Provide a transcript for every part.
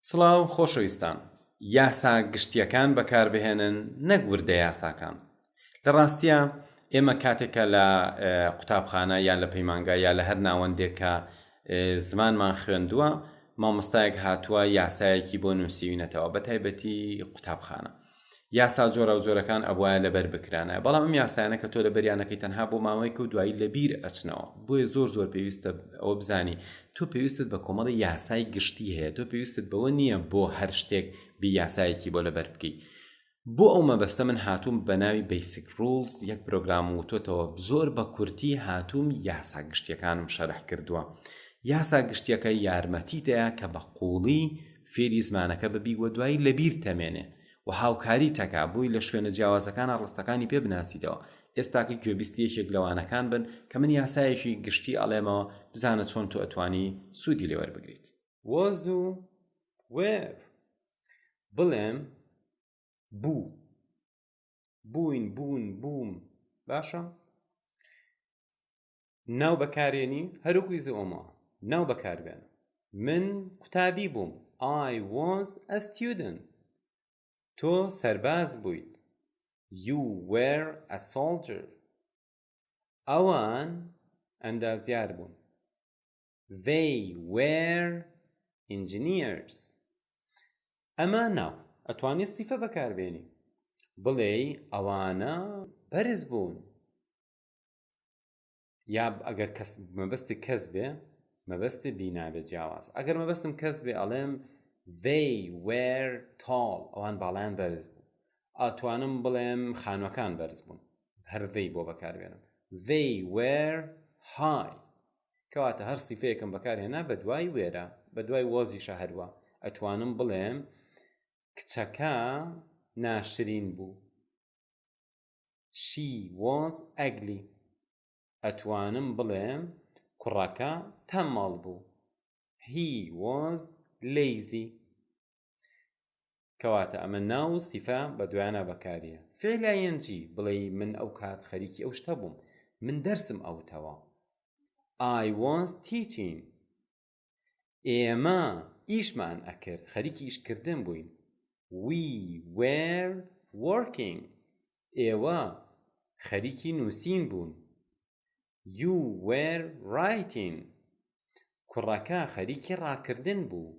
سڵاو خۆشەویستان، یاسا گشتییەکان بەکاربهێنن نەک وردە یاساکان. لە ڕاستییا ئێمە کاتێک کە لە قوتابخانە یا لە پەیمانگا یا لە هەر ناوەندێک کە زمانمان خوێندووە مامۆستایەک هاتووە یاسایەکی بۆ نووسیوینەتەوە بەتایبەتی قوتابخانە یاسا جۆرا و جۆرەکان ئەبواە لەبەر بکرانە بەڵام ئەم یاسایانە کە تۆ لە بەریانەکەی تەنها بۆ ماوەیەک و دوایی لە بیر ئەچنەوە بۆیە زۆر زۆر پێویستە ئەوە بزانی تۆ پێویستت بە کۆمەڵی یاسای گشتی هەیە تۆ پێویستت بەوە نییە بۆ هەر شتێک بی یاسایەکی بۆ لەبەر بکەیت بۆ ئەو مەبەستە من هاتووم بە ناوی بیسک ڕولز یەک پرۆگرام وتۆتەوە زۆر بە کورتی هاتووم یاسا گشتیەکانم شەرح کردووە یاسا گشتیەکە یارمەتی دەیە کە بە قوڵی فێری زمانەکە ببی و دوایی لەبیر تەمێنێ و هاوکاری تەکا بۆی لە شوێنە جیاوازەکانە ڕستەکانی پێ بناسیتەوە ئێستاکە گوێبیستی یەکێک لەوانەکان بن کە من یاسایەکی گشتی ئەڵێمەوە بزانە چۆن تۆ ئەتوانی سوودی لێ وەربگریت was و where بڵێم بوو بووین بوون بووم باشە ناو بەکارێنی هەروەکو ئیزی ئۆمۆ ناو بەکاربێن من قوتابی بووم I was a student تۆ سەرباز بوویت You were a soldier ئەوان ئەندازیار بوون They were engineers ئەمە ناو ئەتوانی سیفە بەکاربێنی بڵێ ئەوانە بەرز بوون یا ئەگەر کەس مەبەستی کەس بێ مەبەستی بینابێ جیاواز ئەگەر مەبەستم کەس بێ ئەڵێم they were tall ئەوان باڵیان بەرز بوو ئاتوانم بڵێم خانوەکان بەرز بوون هەرڤەی بۆ بەکاربێنم they were high کەواتە هەر سیفەیەکم بەکارهێنا بە دوای وێرە بە دوای وەزی شەهروە ئەتوانم بڵێم کچەکە ناشرین بوو She was ugly ئەتوانم بڵێم کوڕەکە تەمەڵ بوو He was lazy کەواتە ئەمە ناو و سیفە بە دویانە بەکاریە فعلایەنجی بڵێ من ئەو کات خەریکی ئەو شتە بووم من دەرسم ئەوتەوە I was teaching ئێمە ئیشمان ئەکرد خەریکی ئیشکردن بووین we were working ئێوە خەریکی نووسین بوون you were writing کوڕەکە خەریکی ڕاکردن بوو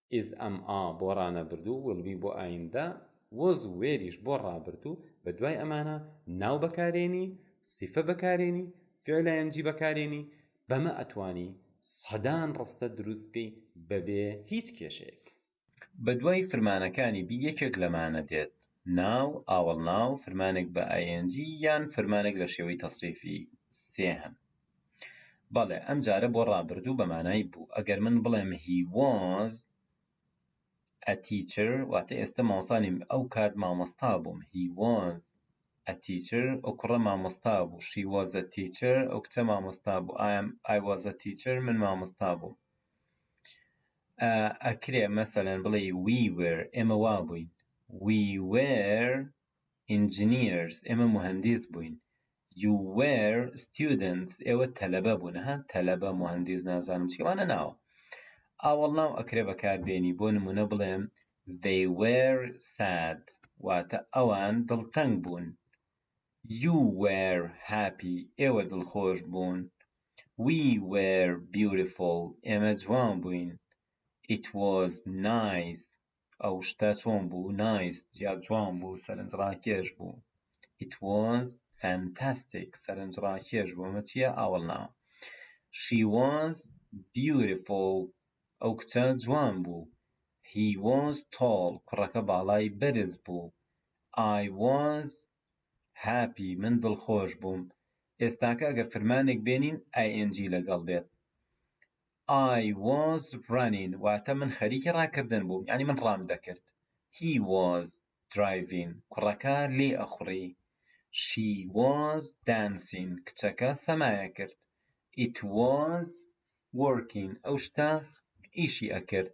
ئیز ئەم ئا بۆ ڕانەبردوو ویل بی بۆ ئایندە وۆز و وێریش بۆ ڕابردوو بە دوای ئەمانە ناو بەکارێنی سیفە بەکارێنی فیعل ئایەنجی بەکارێنی بەمە ئەتوانی سەدان ڕستە دروست بکەی بەبێ هیچ کێشەیەک. بە دوای فرمانەکانی بی یەکێک لەمانە دێت، ناو، ئاوەڵناو، فرمانێک بە ئایەنجی یان فرمانێک لە شێوەی تەسریفی سێهەم. بەڵێ ئەم جارە بۆ ڕابردوو بە مانای بوو. ئەگەر من بڵێم He was a teacher واتە ئێستە مامۆستا نیم، ئەو کات مامۆستا بووم. He was a teacher ئەو کوڕە مامۆستا بوو. She was a teacher ئەو کچە مامۆستا بوو. I am I was a teacher من مامۆستا بووم. ئەکرێ مەسەلەن بڵێ We were ئێمە وا بووین. We were engineers ئێمە مهندس بووین. You were students ئێوە تەلەبە بوون ها تەلەبە مهندس نازانم چی وانە ناوە ئاوەڵ ناو ئەکرێ بەکار بێنی بۆ نمونە بڵێم they were sad واتە ئەوان دڵتەنگ بوون you were happy ئێوە دڵخۆش بوون we were beautiful ئێمە جوان بووین it was nice ئەو شتە چۆن بوو نایس یا جوان بوو سەرنجڕاکێش بوو it was fantastic سەرنجڕاکێش بوو ئەمە چییە ئاوەڵناوە she was beautiful ئەو کچە جوان بوو he was tall کوڕەکە باڵای بەرز بوو I was هاپی من دڵخۆش بووم ئێستاکە ئەگەر فرمانێک بێنین ing لەگەڵ بێت I was running واتە من خەریکی ڕاکردن بووم یعنی من ڕام دەکرد He was driving کوڕەکە لێ ئەخوڕی She was dancing کچەکە سەمایە کرد It was working ئەو شتە ئیشی ئەکرد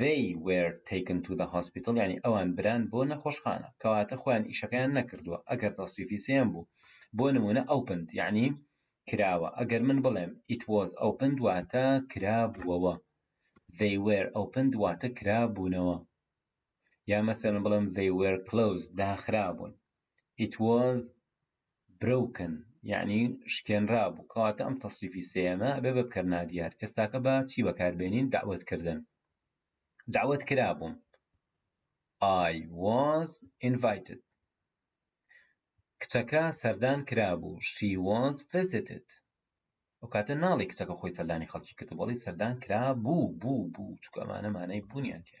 They were taken to the hospital یانی ئەوان بران بۆ نەخۆشخانە کەواتە خۆیان ئیشەکەیان نەکردووە ئەگەر تەسریفی سێیەم بوو بۆ نمونە opened یانی کراوە ئەگەر من بڵێم it was opened واتە کرابووەوە they were opened واتە کرابوونەوە یا مەسەرن بڵێم they were closed داخرابوون it was برۆکن یەعنی شکێنرابوو کەواتە ئەم تەسریفی سێیەمە ئەبێ بە بکەر نادیار ئێستاکە بە چی بەکاربێنین دەعوەت کردن دەعوەت کرابووم I was invited کچەکە سەردان کرابوو she was visited ئەو کاتە ناڵی کچەکە خۆی سەردانی خەڵکی کرد بەڵی سەردان کرا بوو بوو بوو چکەمانە مانای بوونیان تێ